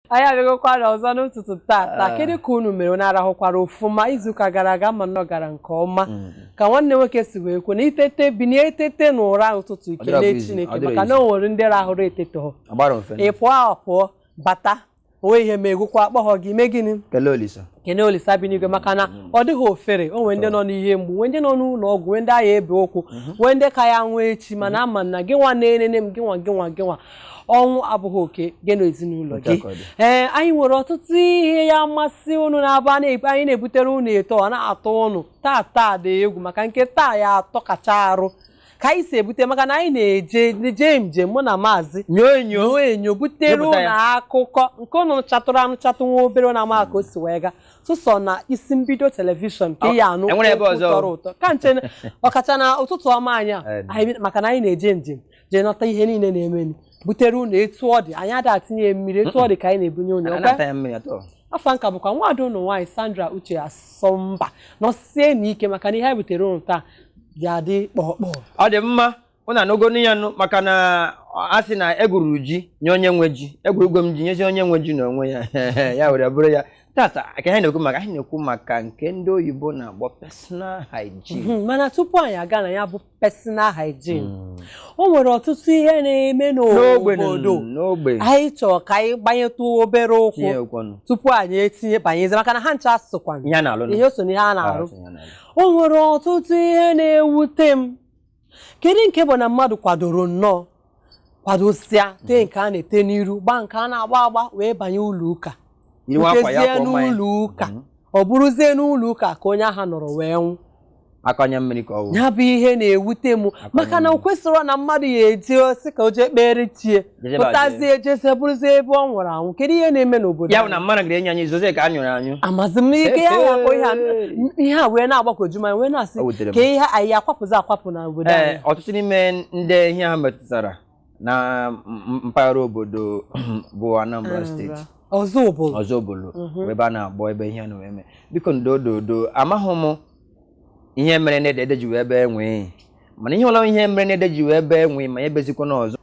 anyị abịagokwara ọzọ n'ụtụtụ tata ah. kedu ka unu mere unu arahụkwara ọfụma izuụka gara aga ama m na ọ gara nke ọma mm. ka nwanne nwoke si wee kwu na i tete binie e tete na ụra ụtụtụ i kelee Chineke maka na o nwere ndị rahụrụ etetehị ị pụọ apụọ bata o nwehị ihe me gị ọkwa akpọghọ gị mee gịnị kene olisa bi n'igwe maka na ọ dịghị ofere o nwee ndị nọ n'ihe mgbu nwee ndị nọ n'ụlọ ọgwụ nwee ndị a ya-ebe ụkwụ nwee ndị ka ya nwee echi mana ama m na gị nwa na-enene m gị nwa gị nwa gị nwa ọnwụ abụghị oke gị na ezinụlọ gị Otu a ka ọ dị. ee anyị nwere ọtụtụ ihe ya-amasị ụnụ na-abụ a na-ebu- anyị na-ebutere ụnụ etu ọ na-atọ ụnụ taa taa dị egwu maka nke taa ya-atọkacha arụ ka anyị si ebute maka na anyị na-eje jee njem mụ na maazị nyoo enyo nyoo enyo butere Nyopụta ya. ụnụ akụkọ nke ụnụ nụchatụrụ anụchatụ nwa obere na ama ka o si wee gaa sụsọ na Isi Mbido telivishọn ka Ọ, ị ya anụ e nwere ebe okwu ọzọ? tọrọ ụtọ ka nche na- ọkacha na ụtụtụ ọma anyị a, Eh, anyị bi- maka na anyị na-eje njem jee nọta ihe niile na-emeni butere ụnụ etu ọ dị anyị ada etinye ya mmiri etu ọ dị ka anyị na-ebunye ụnụ a ọkwa? na-ata ya mmiri atọ afa m ka bụkwa nwaada ụnụ nwaanyị Sandra Uche Asọmba nọsienụ ike maka na ihe anyị butere ụnụ taa ga-adị kpọkpọọ ọ dị mma ụnụ anụgonu ya nụ maka na a sị na e gwuru ji nye onye nwe ji egwurugo m ji nyezi onye nwe ji na onwe ya ya were bụrụ ya tata ka anyị na-ekwu maka anyị na-ekwu maka nke ndị oyibo na-akpọ personal hygiene mhm, mana tupu anyị aga na ya bụ personal hygiene Mm. o nwere ọtụtụ ihe na-eme N'ogbe nụ, n'obodo n'ogbe anyị chọrọ ka anyị gbanyetụ obere ụkwụ tinye ụkwụ nụ tupu anyị etinye banyezi maka na ha ncha sokwa ihe a na-alụ nụ. ihe so n'ihe a na-arụ Ihe a na-alụ. o nwere ọtụtụ ihe na-ewute m kedu nke bụ na mmadụ kwadoro nnọọ kwadosịa tee nke a na-ete n'iru gbaa nke a na-agba agba wee banye ụlọ ụka rutezie n'ụlọ ụka mhm. ọ bụrụzie n'ụlọ ụka ka onye ahụ nọrọ wee nwụ akwa anya mmiri ka ọ wụ ya bụ ihe na-ewute m maka na o kwesịrọ na mmadụ ya-eje ọ sị ka o jee kpere chi ya pụtazie jezie ọ bụrụzie ebe ọ nwụrụ anwụ kedu ihe na-eme n'obodo ya bụ na mmadụ gara ịnyụ anyụ zozie nke a nyụrụ anyụ amazi m ihe a ya-akpọ ihe a wee na-agbagwoju m wee na-asị ka ihe anyị akwapụzi akwapụ na obodo anyị ọtụtụ n'ime ndị ihe a metụtara na mpaghara obodo bụ Anambra steeti Ọzụbụlụ mhm. ebe a na-akpọ ebe ihe na-eme biko ndo ndo ndo amaghị m ihe mere na ede ji wee bee nwee mana ihe ọwụla ihe mere na ede ji wee bee nwee ma ya ebezikwana ọzọ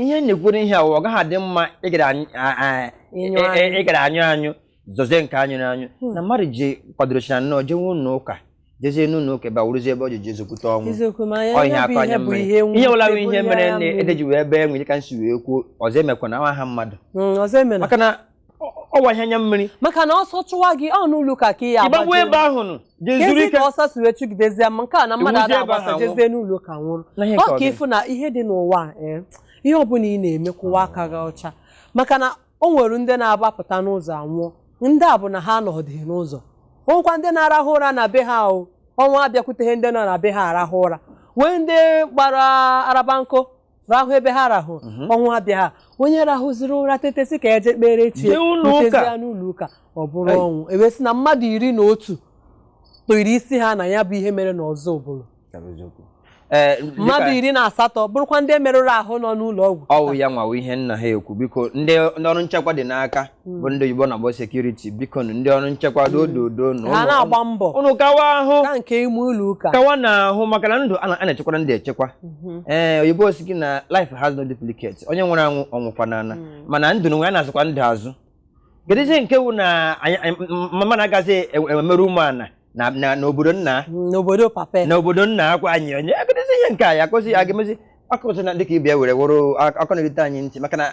ihe na-ekwuru ihe a ọ gaghị adị mma ị gara e, e, ịnyụ anyụ zozie nke a nyụrụ anyụ hmm. na mmadụ ji kwadochara nnọọ jewe ụlọ ụka jezie n'ụlọ ụka ebe a wụrụzie ebe o ji jezie kwute ọnwụ eziokwu ma Ọ ihe ya bụ akọ ihe anya bụ mmiri. ihe ihe ọbụla bụ ihe nwute, mere ya na mmiri. ede ji wee bee nwee ka m si wee kwuo ọzọ emekwana aha mmadụ Mm, ọzọ emena maka na ọ- ọ wụ ihe anya mmiri maka na ọsọ chụwa gị ọ n'ụlọ ụka ka ị ya-agbaje ebe ahụ nụ jee zuru Kezi ike ka ọsọ si wee chụgidezie ma nke a na mmadụ Ọ wụzie ada ebe agbasa ahụ jezie n'ụlọ ụka nwụrụ Na ihe ka ọ ọ ka dị. ị fụ na ihe dị n'ụwa a, eh, ihe ọbụla ị na-eme kwụwa aka gị ọcha maka na o nwere ndị na-agbapụta n'ụzọ anwụọ ndị a bụ na ha anọdịghị n'ụzọ o nwekwa ndị na-arahụ ụra na be ha o ọnwụ abịakwuteghị ndị nọ na be ha arahụ ụra nwee ndị gbara arabanko rahụ ebe ha rahụ mhm. ọnwụ abịa ha onye rahụziri ụra tete sị ka e je kpere chi ya n'ụlọ ụka ọ bụrụ ọnwụ e wee sị na mmadụ iri na otu tara isi ha na ya bụ ihe mere n'Ọzụbụlụ ee mmadụ iri na asatọ bụrụkwa ndị merụrụ ahụ nọ n'ụlọ ọgwụ ọ wụ ya nwa wụ ihe nna ha ekwu biko ndị ndị ọrụ nchekwa dị n'aka bụ ndị oyibo na-akpọ sekuriti biko nụ ndị ọrụ nchekwa dododo na ha na-agba mbọ ụnụ kawa ahụ ka nke ime ụlọ ụka kawa na ahụ maka na ndụ a na- a na-echekwara ndụ echekwa ee oyibo sị gị na life has no duplicate onye nwụrụ anwụ ọ nwụkwa n'ana mana ndụ n'onwe ya a na-azụkwa ndụ azụ kedụzie nke wụ na anyị- anyị- m- m- mmadụ agazi e- emerụ ụmụala na- na- n'obodo nna n'obodo papa ya. n'obodo nna akwa anyị onye kedụzi ihe nke a ya akụzi ya ga-emezi akụzi na dịka ị bịa were wụrụ akụkọ na-erite anyị ntị maka na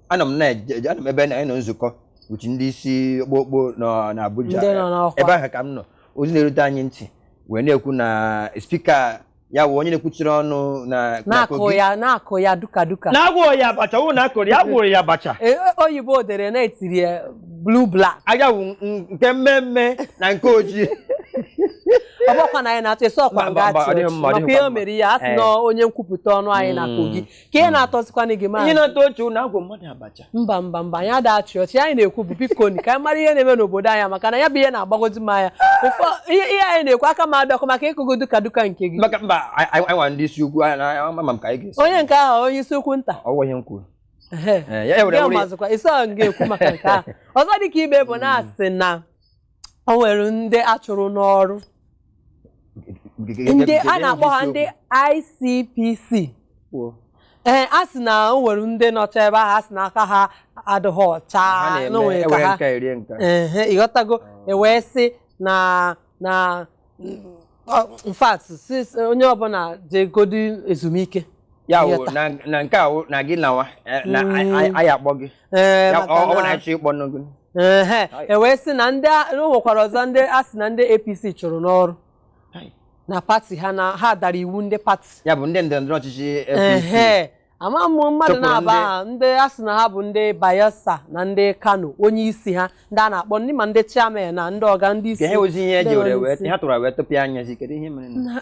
anọ m na-eje eje- anọ m ebe na anyị nọ nzukọ uchi ndị isi okpokpo nọ na Abuja Ndị nọ n'ọkwa. ebe ahụ ka m nọ ozi na-erute anyị ntị wee na-ekwu na spika ya wụ onye na-ekwuchiri ọnụ na na na-akụ Kogi. ya na-akụ ya duka duka na-agwọ ya abacha wụ na a kụrụ ya a gwọrọ ya abacha E, o- oyibo dere na e tiri ya blue black anya wụ n- nke mmee mmee na nke ojii ọ bụkwa na anyị na-achọ ịsọ ọkwa Mba, mba, nga mba, ọ dịghị mma, ọ chọọchị maka dịghịkwa ihe o mma. mere ya a sị Eh. na onye nkwupụta ọnụ anyị na Mm. kogi ka ihe na-atọzikwana gị maazị ihe na-atọ ọchị na agwọ mmadụ abacha mba mba mba anyị ada achị ọchị anyị na-ekwu bụ biko ni ka anyị mara ihe na-eme n'obodo anyị maka na ya bụ ihe na-agbagozi m anya ihe anyị na-ekwu aka m adọkọ maka ịkụgo duka duka nke gị maka mba anyị nwa ndị isi ukwu ama m ka anyị ga-esi onye nke ahụ onye isi ukwu nta ọ wụ ihe m kwuru mazụkwa isi ahụ ga-ekwu maka nke ahụ ọzọ dịka ibe bụ na a sị na o nwere ndị a chụrụ n'ọrụ ndị a na-akpọ ha ndị ICPC ee a sị na o nwere ndị nọcha ebe ahụ a sị na aka ha adịghị ọcha na o nwere ka ha ehe ịghọtago ah. e wee sị na na in fact onye ọbụla jegodi ezumike ya na nke a na gị nawa eh, na mm. anyị akpọ gị Ee, Ya- maka ọ ọ bụ na na- anyị chọọ ịkpọ nụ gị Ehe, e wee sị na ndị a- na o nwekwara ọzọ ndị a sị na ndị APC chụrụ n'ọrụ na pati ha na ha dara iwu ndị pati ya bụ ndị ndọrọ ndọrọ ọchịchị APC ehe ama m mmadụ Chụpụrụ na-aba ndị- ha ndị a sị na ha bụ ndị Bayelsa na ndị Kano onye isi ha ndị a na-akpọ ndị ma ndị chairman na ndị ọga ndị isi ka ha ozi ihe e ndị ji were ọga wee isi. ha tụrụ wee tụpịa anya sị kedu ihe mere na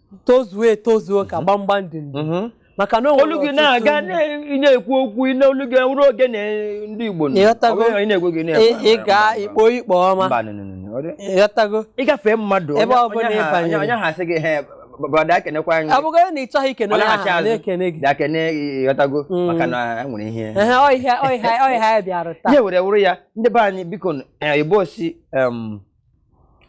tozuo etozuo ka gbamgbam dị ndụ Mhm. maka na o nwere olu gị ọtụtụ na-aga ndị- na- ị na-ekwu okwu ị na- olu gị ruo oge na ndị Igbo nọ. Ịghọtago? Ọ bụrụ na ị na-ekwu gị na-ekwu, ị- ị mba, gaa mba, ikpo ikpo mba. ọma Mba, no, no, no, no. Ọ dị- ịghọtago ịgafee mmadụ Ebe onye- ọ bụla onye ị ha- banyere. onye- onye ha sị gị he brọda ekenekwa anyị ọ bụgodị na ị chọghị ikene Ọ onye na-achị ahụ azụ. na-ekene gị bịa kene ịghọtago Mm. maka na e nwere ihe Ehe, ọ ihe ọ ihe ọ ihe anyị bịara taa ihe were wụrụ ya ndị be anyị biko nụ, eh, igbo sị em,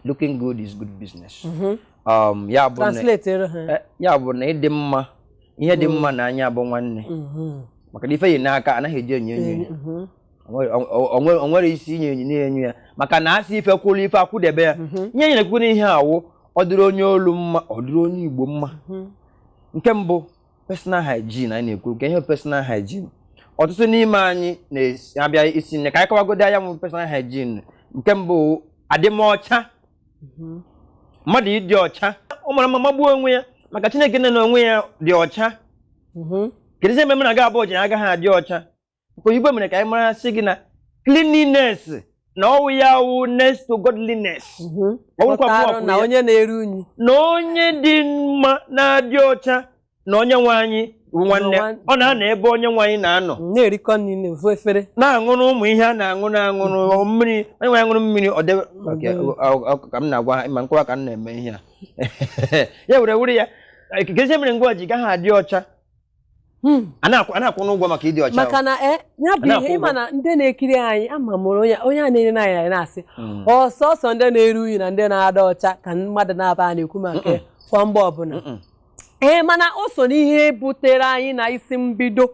looking good is good business mhm. um, ya bụ na eh, ịdị mma ihe dị mma mm. na anya bụ nwanne mhm. maka na ife eyi n'aka anaghị eji enyo enyo ya mhm. o nwere isi inye enyo na-enyo ya maka na asị ife kwụrụ ife akwụdebe ya ihe nyere kwuru ihe a wụ ọ dịrị onye olu mma ọ dịrị onye igbo mma nke mbụ personal hygiene anyị na-ekwu ka ihe personal hygiene ọtụtụ n'ime anyị na-abịa sị nne ka anyị kọwagodi ihe ọ wụ personal hygiene nke mbụ adịmọcha mhm. mmadụ ịdị ọcha ọ mara mma magbuo onwe ya maka chineke nna na onwe ya dị ọcha mhm. kedu ihe mere mụ na gị abụọ ji agaghị adị ọcha Maka oyibo mere ka anyị mara sị gị na cleanliness na ọwụ ya wụ next to godliness. Mhm. Ọ bụrụkwa mụ Pụtara ọkwụrụ na ya. onye na-eru unyi na onye dị mma na-adị ọcha na onye nwe anyị bụ nwanne Nwa- ọ na-anọ ebe onye nwe anyị na-anọ na-erikọ nri n'ofu efere na-aṅụrụ ụmụ ihe a na-aṅụ na-aṅụrụ mmiri onye nwe anyị ṅụrụ mmiri ọ debe Ok, ọ- ọ- ọ- ka m na-agwa ha ma nkọwa ka m na-eme ihe a ya were were ya kezi ihe mere gịnwa ji gaghị adị ọcha Hmm. a na-akwụnụ ụgwọ maka ịdị ọcha maka na eh, ya bụ ihe ị ma na ndị na-ekiri anyị ama mụrụ onye onye a na-ere anyị na-asị hmm. ọ sọsọ ndị na-eru unyi na ndị na-adị ọcha ka mmadụ na-abịa na-ekwu maka kwa mgbe ọbụla ee eh, mana o so n'ihe butere anyị na isi mbido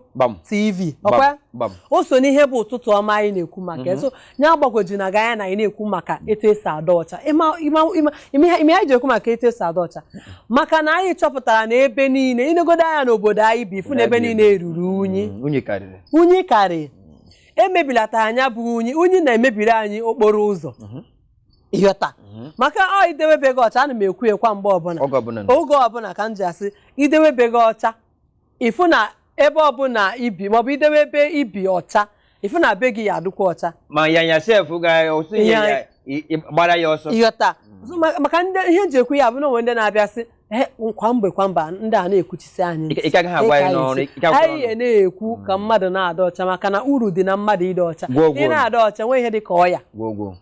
tv ọ kwa o so n'ihe bụ ụtụtụ ọma anyị na-ekwu maka mm-hmm. ya agbagwojuna gị anya na anyị na-ekwu maka etu esi adị ọcha ịma ịma ịma ịma ihe ihe anyị ji ekwu maka etu esi adị ọcha maka na anyị chọpụtara na ebe niile i negodo anya n'obodo anyị bi ị fụ na ebe niile ruru unyi Mm, unyi karịrị unyi karị emebilata ya bụ unyi unyi na-emebiri anyị okporo ụzọ ị ghọta maka ọ idewe be gị ọcha ana m ekwu kwa mgbe ọbụla oge ọbụla na oge ọbụla ka m ji asị idewe be gị ọcha ịfụ na ebe ọbụla i bi maọbụ idewe ebe i bi ọcha ịfụ na be gị ya adịkwa ọcha ma ya ya sef ga ọsụ ihe Ya- ya i- i- gbara ya ọsọ ị ghọta So, ma- maka ndị ihe eji ekwu ya bụ na o nwe ndị na-abịa sị "Eh, kwa mgbe kwa mgbe ndị a na-ekwuchisi anyị Ị- ị ka gaghị agwa ya Ị ka n'ọrụ, anyị ị ka agwa anyị n'ọrụ. na-ekwu ka mmadụ na-adị ọcha maka na uru dị na mmadụ ịdị ọcha Gwoo, gwoo. ị na-adị ọcha nwee ihe dị ka ọya gwogwo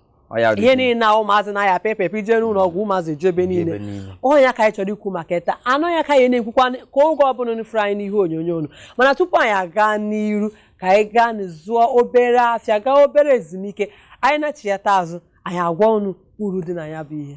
ihe niile na ụmụazị na-aya pepepe i je n'ụlọ ọgwụ ụmụazị ju ebe niile ọ ya ka anyị chọrọ ikwu maka taa ọ ya ka anyị na-ekwukwa ka oge ọbụla unu fụrụ anyị n'ihe onyonyo unu mana tupu anyị aga n'iru ka anyị gaa zụọ obere afịa gaa obere ezumike anyị nachighata azụ anyị agwa unu uru dị na ya bụ ihe